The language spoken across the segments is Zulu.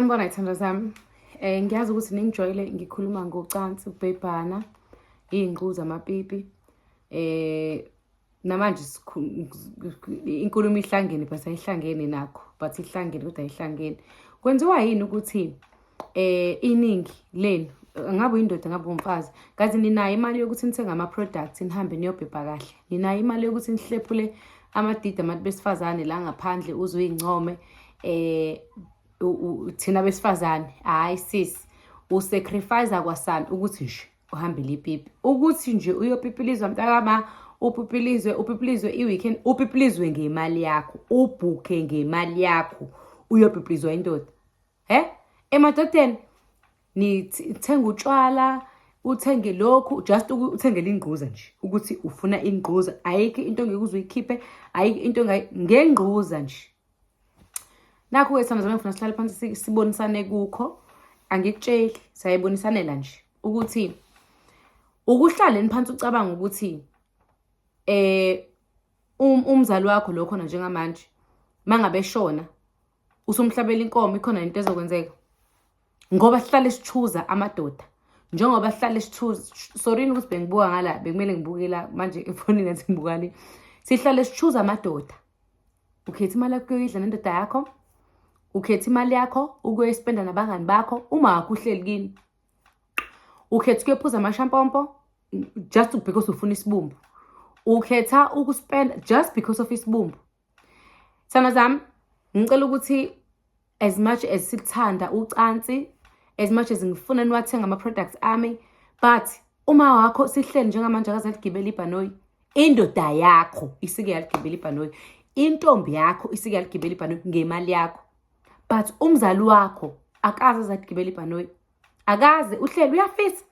Sanibona ithando zami um eh, ngiyazi ukuthi ningijwayele ngikhuluma ngocansi ukubhebhana iy'ngqu zamapipi um namanje inkulumo ihlangene but ayihlangene nakho but ihlangene kodwa ayihlangene kwenziwa yini ukuthi um iningi lenu ngabe uyindoda ngabe umfazi kazi ninayo imali yokuthi nithenge ama-products nihambe niyobhebha kahle ninayo imali yokuthi nihlephule amadidi abantu besifazane la ngaphandle uze uyincome um thina besifazane hhayi sisi usacrifiza kwasani ukuthi nje uhambile ipipi ukuthi nje uyopipilizwa mntakama upipilizwe upipilizwe i-weekend upipilizwe ngemali yakho ubhukhe ngemali yakho uyopipilizwa indoda he emadodeni nithenga utshwala uthenge lokhu just uthengele ingquza nje ukuthi ufuna ingquza ayikho into ngeke uze uyikhiphe ayikho into ngengquza nje nakho ke sithando zami ngifuna sihlale phansi sibonisane kukho angikutsheli sayibonisanela nje ukuthi ukuhlaleni phansi ucabanga ukuthi eh um, umzali wakho lo khona njengamanje mangabe shona usumhlabela inkomo ikhona into ezokwenzeka ngoba sihlale sithuza amadoda njengoba sihlale sithuza sorry ukuthi bengibuka ngala bekumele ngibuke la manje efonini ngathi ngibuka le sihlale sithuza amadoda ukhetha imali yakho yoyidla nendoda yakho ukhetha imali yakho ukuyoyispenda nabangani bakho uma wakho uhleli kini ukhetha ukuyophuza amashampompo just because ufuna isibumbu ukhetha ukuspenda just because of isibumbu Sana zami ngicela ukuthi as much as sikuthanda ucansi as much as ngifuna niwathenga ama-products ami but uma wakho sihleli njengamanje akazaligibela ibhanoyi indoda yakho isike yaligibela ibhanoyi intombi yakho isike yaligibela ibhanoyi ngemali yakho but umzali wakho akaze azaligibela ibhanoyi akaze uhleli uyafisa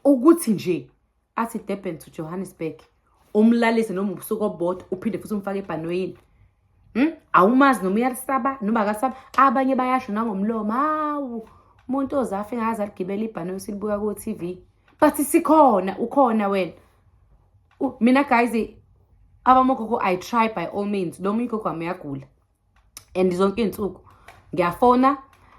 ukuthi nje athi Durban to Johannesburg umlalise noma ubusuku obodwa uphinde futhi umfake ebhanoyini hmm? awumazi noma uyalisaba noma akasaba abanye bayasho nangomlomo hawu umuntu ozafe ngaze aligibela ibhanoyi silibuka ku-tv but sikhona ukhona wena mina guys abamogogo i try by all means lo munye ugogo wami uyagula and zonke iy'nsuku ngiyafona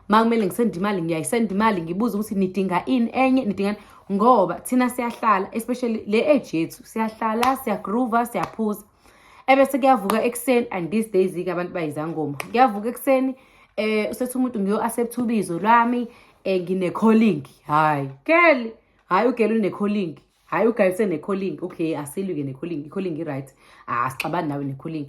uma kumele ngisenda imali ngiyayisenda imali ngibuze ukuthi nidinga ini enye nidinga ngoba thina siyahlala especially le age yethu siyahlala siyagroova siyaphuza ebese kuyavuka ekuseni and these days-ke abantu bayizangoma kuyavuka ekuseni eh usethi umuntu ngiyo-accept ubizo lwami eh ngine-calling hhayi girl hhayi ugela une-calling hhayi ugayise ne-calling okay asilwi-ke ne-calling i-calling i-right asixabani ah, nawe ne-calling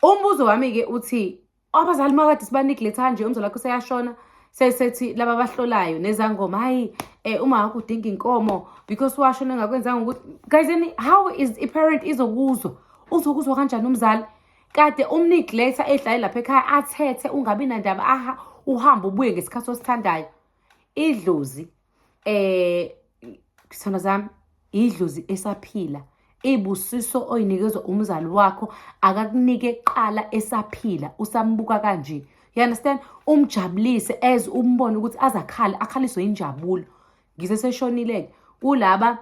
Umbuzo wami-ke uthi abazali makade sibaneglect kanje umzali wakho seyashona sesethi laba abahlolayo nezangoma hhayi um eh, uma wakho udinga inkomo because washona engakwenzanga ukuthi guys and how is iparent izokuzwa uzokuzwa kanjani umzali kade umneglect-a edlale lapha ekhaya athethe ungabi nandaba aha uhambe ubuye ngesikhathi osithandayo idlozi eh sithando sami idlozi esaphila ibusiso oyinikezwa umzali wakho akakunike qala esaphila usambuka kanje you understand umjabulise as umbone ukuthi azakhale akhaliswe injabulo ngiseseshonile-ke kulaba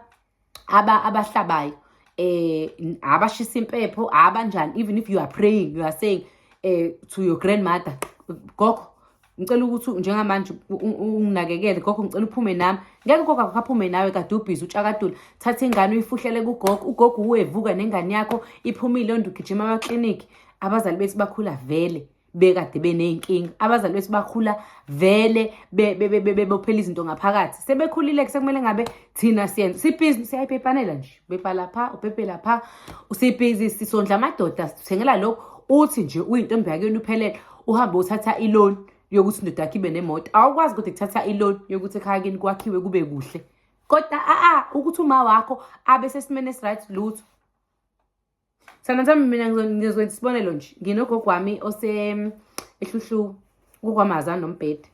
aba abahlabayo eh abashisa impepho abanjani even if you are praying you are saying eh to your grandmother gogo ngicela ukuthi njengamanje unginakekele gogo ngicela uphume nami ngeke gogo akaphume nawe kade ubhizi utshakadula thatha ingane uyifuhlele kugogo ugogo uwevuka nengane yakho iphumile onde ugijima amaklinikhi abazali bethu bakhula vele bekade beney'nkinga abazali bethu bakhula vele bebophela izinto ngaphakathi sebekhulile-ke sekumele ngabe thina siyenza sibhizi siyayipepanela nje upepa lapha upepe lapha sibhizi sisondla amadoda sithengela lokhu uthi nje uyintombi yakeni uphelele uhambe uthatha iloni yokuthi indoda yakho ibe nemoto awukwazi ukuthi kuthatha iloni yokuthi ekhaya kini kwakhiwe kube kuhle kodwa a-a ukuthi uma wakho abe sesimeni esiright lutho Sana sami mina ngizokwenza isibonelo nje nginogogo wami ose ehluhlu kukwamaza nombhede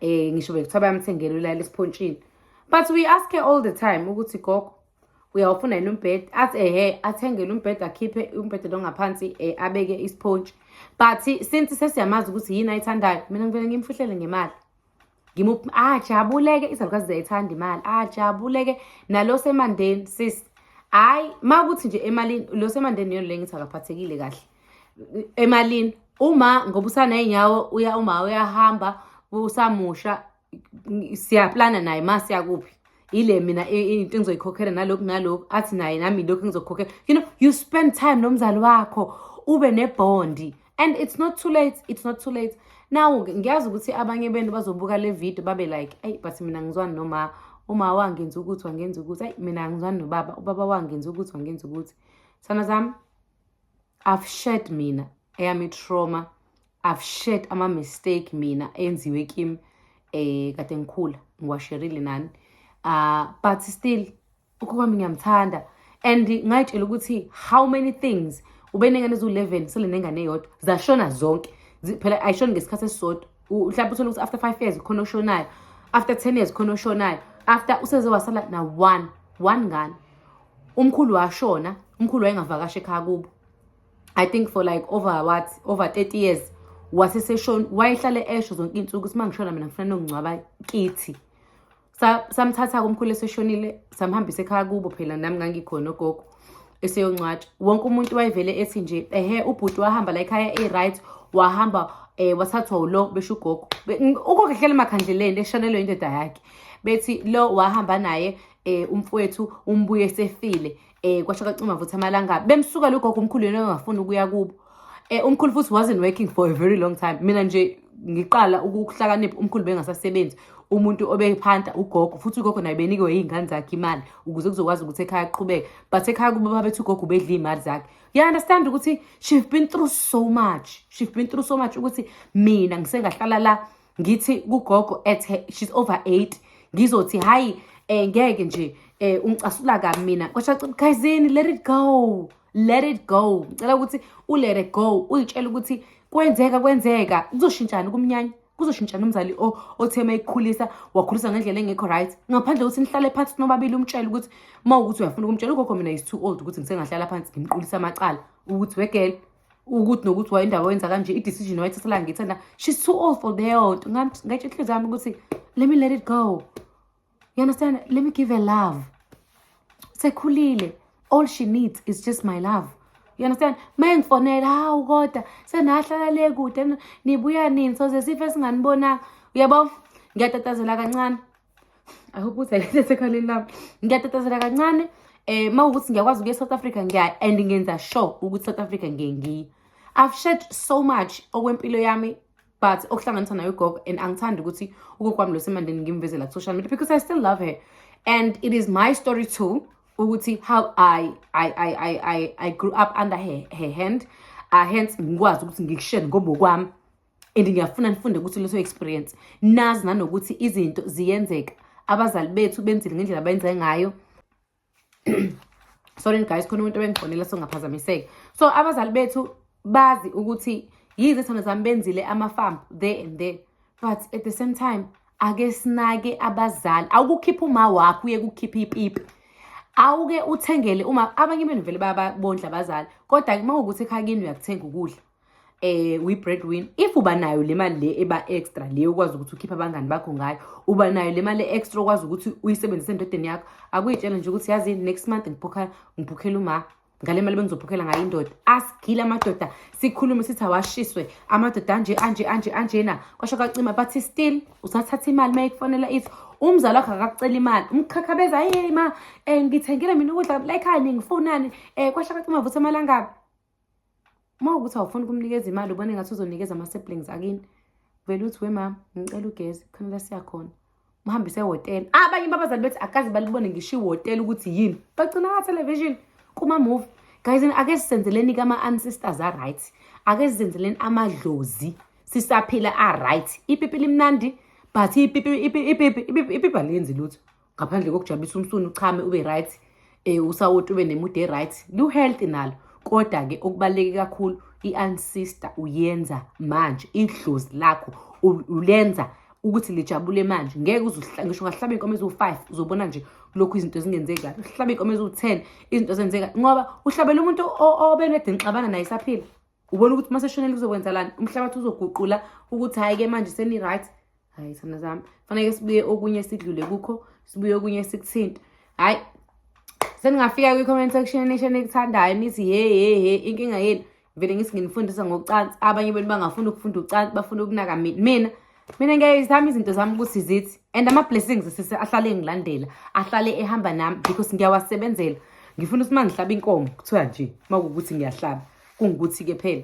eh ngisho bekuthiwa bayamthengela ulala esiphontshini but we ask her all the time ukuthi gogo uyawufuna yini umbhede athi ehe athengele umbhede akhiphe umbhede lo ngaphansi eh, abeke isiphontshi but since sesiyamazi ukuthi yini ayithandayo mina ngivele ngimfuhlele ngemali ngimuphi ajabuleke izalukazi ziyayithanda imali ajabuleke nalo semandeni sis hayi uma kuthi nje emalini lo semandeni yona le ngithi akaphathekile kahle emalini uma ngoba usaney'nyawo uya uma uyahamba usamusha siyaplana naye ma siyakuphi ile mina into engizoyikhokhela nalokhu nalokhu athi naye nami lokhu engizokukhokhela you know you spend time nomzali wakho ube nebondi and it's not too late it's not too late now ngiyazi ukuthi abanye benu bazobuka le video babe like ayi but mina ngizwani noma uma wangenza ukuthi wangenza ukuthi ayi mina angizwani nobaba ubaba wangenza ukuthi wangenza ukuthi sana zami i've shared mina eyami trauma i've shared ama-mistake mina enziwe kim um eh, kade ngikhula ngiwasherile nani uh, but still ukhokho wami ngiyamthanda and ngayitshela ukuthi how many things ubenengane eziwu-11 sele nengane eyodwa zashona zonke phela ayishoni ngesikhathi esisodwa mhlawumbe uthole ukuthi after five years khona oshonayo after ten years khona oshonayo after useze wasala na one one ngane umkhulu washona umkhulu wayengavakashi ekhaya kubo i think for like over what over 30 years waseseshona wayehlale esho zonke iy'nsuku ukuthi uma ngishona mina ngifuna nongcwaba kithi samthatha-ke umkhulu eseshonile samhambisa ekhaya kubo phela nami ngangikhona ogogo eseyoncwatsha wonke umuntu wayevele ethi nje ehe ubhuti wahamba la ekhaya e-right wahamba eh wathathwa ulo besho ugogo ugogo ehlele emakhandleleni eshanelwe indoda yakhe bethi lo wahamba naye eh umfowethu umbuye sefile eh kwasho kacima futhi amalanga bemsuka lokho umkhulu yena engafuni ukuya kubo eh umkhulu futhi wasn't working for a very long time mina nje ngiqala ukuhlakanipha umkhulu bengasasebenzi umuntu obephanta ugogo futhi ugogo naye benikiwe iy'ngane zakhe imali ukuze kuzokwazi ukuthi ekhaya aqhubeke but ekhaya kubo babethi ugogo ubedla iy'mali zakhe you understand ukuthi she've been through so much she've been through so much ukuthi mina ngisengahlala la ngithi kugogo ethe she's over 8 ngizothi hayi eh ngeke nje eh ungicasula kabi mina kwasha guysini let it go let it go ngicela ukuthi u let it go uyitshela ukuthi kwenzeka kwenzeka kuzoshintshana kumnyanya kuzoshintshana umzali othema ekukhulisa wakhulisa ngendlela engekho right ngaphandle ukuthi nihlale phansi nobabili umtshele ukuthi uma ukuthi uyafuna ukumtshela ugogo mina is too old ukuthi ngisengahlala phansi ngimqulisa amacala ukuthi wegele ukuthi nokuthi wayendaba wenza kanje i-decision wayithatha la ngithanda she's too old for leyo nto ngatsho inhliziyo yami ukuthi let me let it go you understand let me give her love sekhulile all she needs is just my love you understand ma engifonela hawu kodwa senahlala le kude nibuya nini soze sife singanibonanga uyabo ngiyatatazela kancane I hope ukuthi ayithethe ekhaleni lami. Ngiyatatazela kancane eh mawukuthi ngiyakwazi ukuya South Africa ngiya and ngenza sure ukuthi South Africa ngengiyi. I've shared so much okwempilo yami but okuhlanganisa nayo ugogo and angithandi ukuthi ugogo wami lo semandeni ngimvezela ku social media because I still love her and it is my story too ukuthi how I I I I I, I grew up under her, her hand uh, hence ngikwazi ukuthi ngikushare ngobokwami and ngiyafuna nifunde ukuthi leso experience nazi nanokuthi izinto ziyenzeka abazali bethu benzile ngendlela abayenze ngayo sorry guys khona umuntu obengifonela songaphazamiseka so abazali bethu bazi ukuthi yize thando zami benzile ama-farm there and there but at the same time ake sinake abazali awukukhipha uma wakho uye kukhipha ipipi awuke uthengele uma abanye benu vele bayabondla abazali kodwa uma ukuthi ekhaya kini uyakuthenga ukudla eh we bread win if uba nayo le mali le eba extra le ukwazi ukuthi ukhiphe abangani bakho ngayo uba nayo le mali extra ukwazi ukuthi uyisebenzise endodeni yakho akuyitshela nje ukuthi yazi next month ngiphokhela ngiphokhela uma ngale mali bengizophokhela ngayo indoda asigile amadoda sikhulume sithi awashiswe amadoda anje anje anje anjena kwasho kacima bathi still usathatha imali uma ikufonela ithi umzali wakho akakucela imali umkhakha beza hey ma um ngithengele mina ukudla layikhani ngifunani um kwasho kacima vuthi amalangabi uma ukuthi awufuni kumnikeza imali ubone ngathi uzonikeza ama-siblings akini vele uthi wemama ngicela ugezi khona la siyakhona muhambise ehhotela ah, abanye babazali bethi akaze balibone ngisho ihhotela ukuthi yini bagcina kathelevishini kuma-movie guys ake sisenzeleni kama-ancestors a-right ake sizenzeleni amadlozi sisaphila a-right ipipi limnandi but ipipi ipipi ipipi aliyenzi lutho ngaphandle kokujabulisa umsunu uchame ube right um usawoti ube nemude e-right liwu-healthy nalo kodwa-ke okubaluleke kakhulu i-ancestor uyenza manje idlozi lakho ulenza ukuthi lijabule manje ngeke ngisho ungahlaba iy'nkomo eziwu-five uzobona nje lokhu izinto zingenzeki kahle uhlaba iy'nkomo eziwu-ten izinto zenzeka ngoba uhlabela umuntu obenedinixabana naye isaphila ubona ukuthi uma seshonele kuzokwenzelani umhlabathi uzoguqula ukuthi hhayi-ke manje seni-right hhayi thanda zami faneke sibuye okunye sidlule kukho sibuye okunye sikuthinte hhayi seningafika kwi-comment section nisho nikuthandayo nithi he he he inkinga yenu vele ngithi nginifundisa ngocansi abanye benu bangafuni ukufunda ucansi bafuna ukunaka mina mina ngiyayizama izinto zami ukuthi zithi and ama-blessings sise ahlale engilandela ahlale ehamba nami because ngiyawasebenzela ngifuna ukuthi uma ngihlaba inkomo kuthiwa nje uma kuwukuthi ngiyahlaba kungukuthi-ke phela